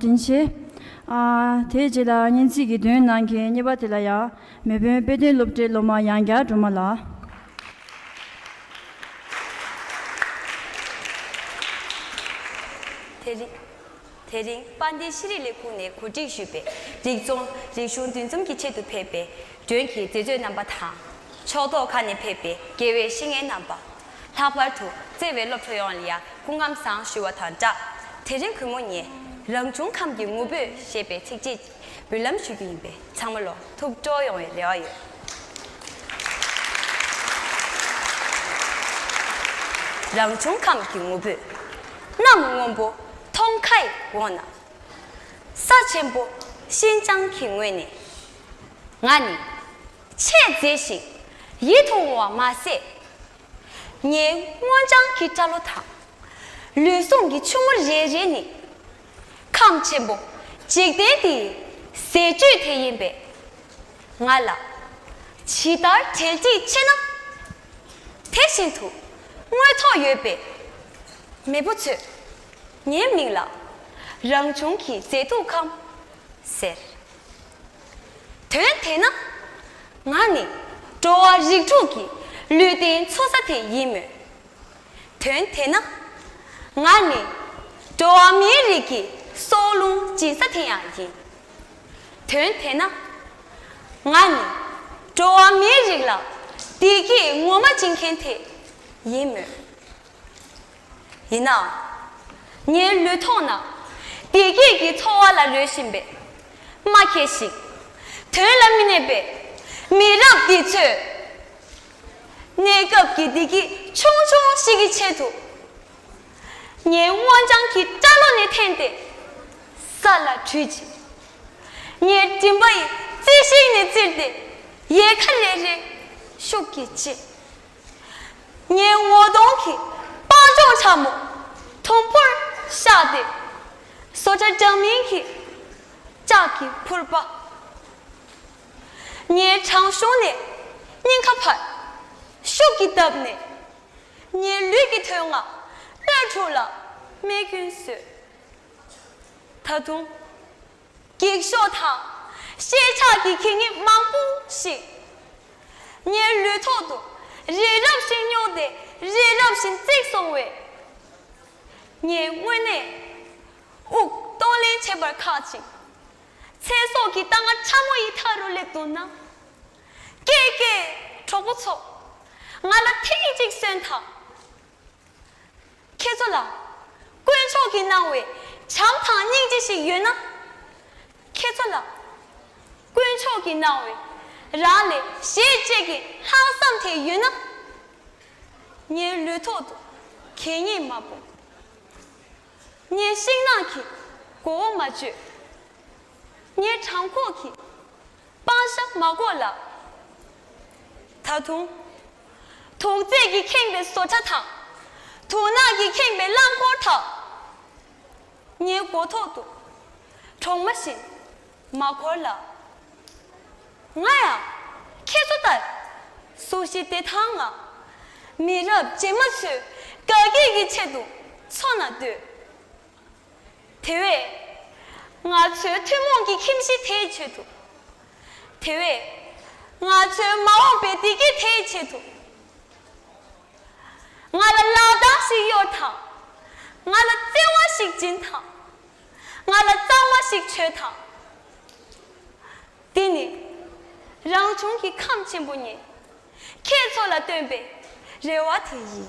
དྲིན་ཆེ། དེའི་རྗེས་ལ་སྙན་ཚིག་གི་མདུན་ནང་གི་རྙེད་པ་དེ་ལ་ཡང་མེས་དཔོན་དཔེ་སྟོན་སློབ་གྲྭའི་སློབ་མ་ཡང་བསྐྱར་སྒྲོལ་མ་ལགས། དེ་རིང། དེ་རིང་དཔའ་མཐའི་ཤེས་རིག་ལས་ཁུངས་ནས་གོ་སྒྲིག་ཞུས་པའི་རིག་རྩོམ་རིག་གཞུང་འདུས་འཛོམས་ཀྱི་ཆེད་དུ་ཕེབས་པའི་མགྲོན་གྱི་མཛེས་བཟོས་རྣམ་པ་དང། ཕྱོགས་གཏོགས་ཁག་ནས་ཕེབས་པའི་དགེ་བའི་བཤེས་གཉེན་རྣམ་པ། ལྷག་པར་དུ་བརྩེ་བའི་སློབ་གྲོགས་ཡོངས་ལ་ཡང་སྐུ་ཁམས་བཟང་ཞུ་བ་དང་སྦྲགས། དེ་རིང་གུས་མོ་ངས་རང་བྱུང་ཁམས་ཀྱི་ངུ་འབོད་ཞེས་པའི་ཚིགས་བཅད་ཅིག་འབུལ་ལམ་ཞུ་རྒྱུ་ཡིན་པས་ཚང་མ་ལོ་ཐུགས་སྤྲོ་ཡོང་བའི་རེ་བ་ཡོད། རང་བྱུང་ཁམས་ཀྱི་ངུ་འབོད། གནམ་སྔོན་པོ་མཐོང་ཁ་ཡི་འོག་ན། ས་ཆེན་པོ་ཤིན་ཅང་གི་ངོས་ནས། ང་ནི། ཆས་མཛེས་ཤིང་ཡིད་དུ་འོང་བ་མ་ཟད། ངའི་སྔོ་ལྗང་གི་སྐྲ་ལོ་དང། ལུས་ཟུངས་ཀྱི་ཆུ་མོ་རེ་རེ་ནི། ཁམས་ཆེན་པོ་འཇིག་རྟེན་འདིའི་ཟས་བཅུད་དེ་ཡིན་པས། ང་ལ་ཇི་ལྟར་དྲལ་གྱིས་ཕྱེ་ན། དེ་བཞིན་དུ་དངོས་ཐོག་ཡོད་པའི་མེས་པོ་ཚོས་ངའི་མིང་ལ་རང་བྱུང་གི་མཛེས་སྡུག་ཁམས་ཟེར། དོན་དེས་ན། ང་ནི་འགྲོ་བ་རིགས་དྲུག་གི་ལུས་རྟེན་འཚོ་ས་དེ་ཡིན་མོད། དོན་དེས་ན། ང་ནི་འགྲོ་བ་མིའི་རིགས་ཀྱི་སྲོག་རླུང་སྦྱིན་ས་དེ་ཡང་ཡིན། དོན་དེས་ན། ང་ནི་འགྲོ་བ་མིའི་རིགས་ལ་བདེ་སྐྱིད་ངོ་མ་སྦྱིན་མཁན་དེ་ཡིན་མོད། ཡིན་ནའང། ངའི་ལུས་ཐོག་ན་བདེ་སྐྱིད་ཀྱི་འཚོ་བ་ལ་ལུས་བཞིན་པའི་རྨ་ཁྱེར་ཞིག་དོན་ལ་མི་གནས་པའི་མི་རབས་འདི་ཚོས། གནས་སྐབས་ཀྱི་བདེ་སྐྱིད་ཆུང་ཆུང་ཞིག་གི་ཆེད་དུ། ངའི་སྔོ་ལྗང་གི་སྐྲ་ལོ་ནས་འཐེན་ཏེ་ས་ལ་དྲུད་ཅིང། ངའི་མགྲིན་པ་ཡི་རྩེ་ཤིག་ནས་བཙིར་ཏེ་ཡལ་ག་ལེ་རེ་ཤུགས་ཀྱིས་བཅད། ངའི་ངོ་གདོང་གི་སྤང་ལྗོངས་ཕྲ་མོ་དུམ་བུར་གཤགས་ཏེ། སོ་ལྕགས་འདྲ་མིན་གྱི་ལྕགས་ཀྱི་ཕུར་པ། ངའི་བྲང་གཞུང་ནས་སྙིང་ཁ་བར་ཤུགས་ཀྱིས་བཏབ་ནས། ངའི་ལུས་ཀྱི་དོན་ལྔ་སྣོད་དྲུག་ལ་རྨས་སྐྱོན་བཟོས། ད་དུང་འགྱིག་ཤོག་དང་ཤེལ་ཆགས་ཀྱི་གད་སྙིགས་མང་པོ་ཞིག་ཉལ་ལུས་ཐོག་ཏུ་རི་རབ་བཞིན་རྙོག་སྟེ་རི་རབ་བཞིན་བརྩིགས་སོང་བས། ངས་དངོས་གནས་དབུགས་གཏོང་ལེན་བྱེད་པར་ཁག་ཅིང། ཚེ་སྲོག་གི་རྟ་རྔ་ཕྲ་མོ་ཡི་མཐའ་རུ་སླེབས་འདུག་ན། ཀྱེ་ཀྱེ་གྲོགས་པོ་ཚོ། ང་ལ་ཐེངས་གཅིག་གསོན་དང། ཁྱེད་ཚོ་ལ་དཀོན་མཆོག་གིས་གནང་བའི་བྱམས་དང་སྙིང་རྗེ་ཞིག་ཡོད་ན། ཁྱེད་ཚོ་ལ་དཀོན་མཆོག་གིས་གནང་བའི་རང་ལས་གཞན་གཅེས་ཀྱི་ལྷག་བསམ་དེ་ཡོད་ན། ངའི་ལུས་ཐོག་ཏུ་གད་སྙིགས་མ་སྤུངས། ངའི་ཤིང་ནགས་ཀྱི་མགོ་བོ་མ་གཅོད། ངའི་བྲང་ཁོག་གི་སྤང་ཤ་མ་བཀོག་ལགས། ད་དུང་དུག་རྫས་ཀྱིས་ཁེངས་པའི་བཟོ་གྲྭ་དང། དུག་ནག་གིས་ཁེངས་པའི་རླངས་འཁོར་དག། ངའི་མགོ་ཐོག་ཏུ་གྲོག་མ་བཞིན་མ་འཁོར་ལ། ང་ཡང་ཁྱེད་ཚོ་ལྟར་སུ་ཞིག་བདེ་ཐང་ངང་མི་རབས་རྗེས་མ་ཚོའི་དགའ་སྐྱིད་ཀྱི་ཆེད་དུ་འཚོ་ན་འདོད། དེ་བས། ང་ཚོའི་ཐུན་མོང་གི་ཁྱིམ་གཞི་དེའི་ཆེད་དུ། དེ་བས། ང་ཚོའི་མ་འོངས་པའི་བདེ་སྐྱིད་དེའི་ཆེད་དུ། ང་ལ་ལག་རྡང་ཞིག་གཡོར་དང། ང་ལ་བརྩེ་བ་ཞིག་སྦྱིན་དང། ང་ལ་གཙང་མ་ཞིག་བྱོས་དང། འདི་ནི་རང་བྱུང་གི་ཁམས་ཆེན་པོ་ཉིད་ཁྱེད་ཚོ་ལ་བཏོན་པའི་རེ་བ་དེ་ཡིན།